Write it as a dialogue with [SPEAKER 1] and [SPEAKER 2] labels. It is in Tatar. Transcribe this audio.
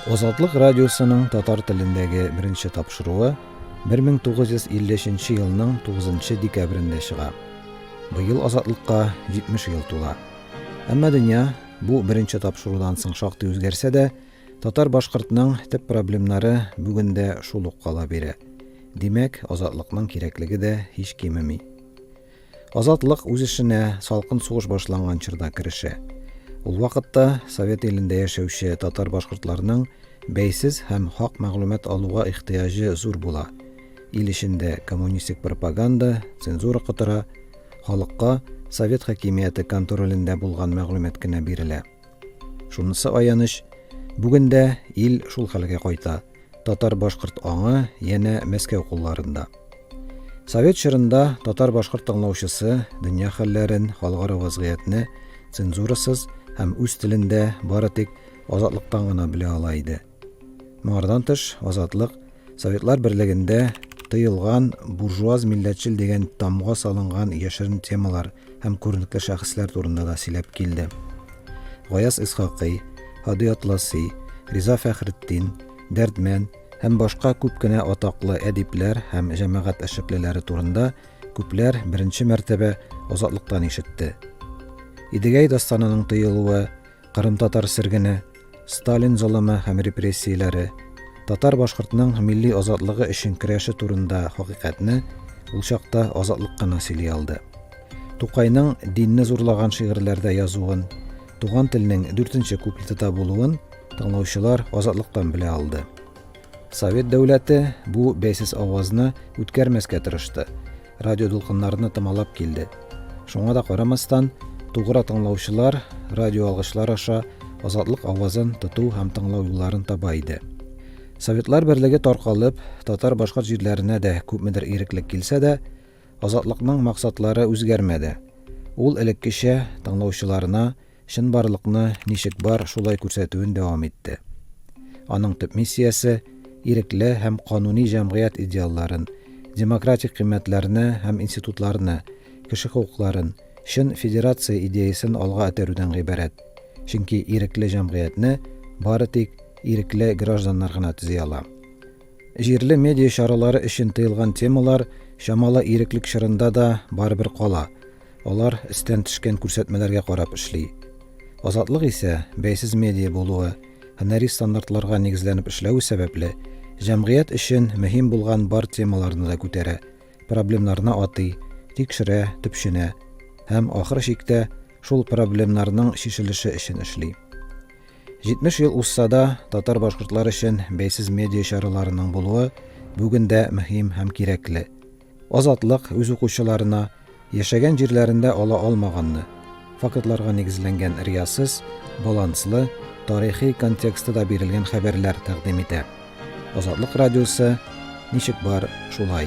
[SPEAKER 1] Азатлык радиосының татар телендәге беренче тапшыруы 1953 елның 9 декабрендә чыга. Быел Азатлыкка 70 ел тула. Әмма дөнья бу беренче тапшырудан соң шактый үзгәрсә дә, татар-башкортның төп проблемнары бүген дә шул ук кала бирә. Димәк, Азатлыкның кирәклеге дә һич кимеми. Азатлык үз эшенә салкын сугыш башланган чорда керешә. Ул вакытта Совет илендә яшәүче татар-башкортларның бәйсез һәм хак мәгълүмат алуга ихтыяҗы зур була. Ил эчендә коммунистик пропаганда, цензура котыра, халыкка совет хакимияте контролендә булган мәгълүмат кенә бирелә. Шунысы аяныч, бүген дә ил шул хәлгә кайта, татар-башкорт аңы янә Мәскәү кулларында. Совет чорында татар-башкорт тыңлаучысы дөнья хәлләрен, халыкара вазгыятьне цензурасыз һәм үз телендә бары тик азатлыктан гына белә ала иде. Моңардан тыш, Азатлык Советлар Берлегендә тыелган буржуаз-милләтчел дигән тамга салынган яшерен темалар һәм күренекле шәхесләр турында да сөйләп килде. Гаяз Исхакый, Һади Атласи, Риза Фәхретдин, Дәрдмән һәм башка күп кенә атаклы әдипләр һәм җәмәгать эшлеклеләре турында күпләр беренче мәртәбә Азатлыктан ишетте. Идегәй дастанының тыелуы, Кырымтатар сергене, Сталин золымы һәм репрессияләре, татар-башкортның милли азатлыгы өчен көрәше турында хакыйкатьне ул чакта азатлык кына сөйли алды. Тукайның динне зурлаган шигырьләрдә язуын, туган телнең дүртенче куплетыда булуын тыңлаучылар азатлыктан белә алды. Совет дәүләте бу бәйсез авазны үткәрмәскә тырышты радио дулкыннарны томалап килде. Шуңа да карамастан, тугра тыңлаучылар радио алгышлар аша азатлык авазын тоту һәм тыңлау юлларын таба иде. Советлар берлеге таркалып, татар башкорт җирләренә дә күпмедер иреклек килсә дә, азатлыкның максатлары үзгәрмәде. Ул элеккечә тыңлаучыларына Чынбарлыкны ничек бар, шулай күрсәтүен дәвам итте. Аның төп миссиясе, ирекле һәм кануни җәмгыять идеалларын, демократик кыйммәтләрне һәм институтларны, кеше хокукларын, чын федерация идеясен алга этәрүдән гыйбарәт, чөнки ирекле җәмгыятьне бары тик ирекле гражданнар гына төзи ала. Җирле медиа чаралары өчен тыелган темалар чамалы иреклек чорында да барыбер кала, Алар өстән төшкән күрсәтмәләргә карап эшли. Азатлык исә, бәйсез медиа булуы, һөнәри стандартларга нигезләнеп эшләве сәбәпле, җәмгыять өчен мөһим булган бар темаларны да күтәрә, проблемнарны атый, тикшерә, төпченә һәм, ахыр чиктә, шул проблемнарның чишелеше өчен эшли. 70 ел узса да, татар-башкортлар өчен бәйсез медиа чараларының булуы бүген дә мөһим һәм кирәкле. Азатлык үз укучыларына яшәгән җирләрендә ала алмаганны, фактларга нигезләнгән риясыз, баланслы, тарихи контексты да бирелгән хәбәрләр тәкъдим итә. Азатлык радиосы Ничек бар, шулай.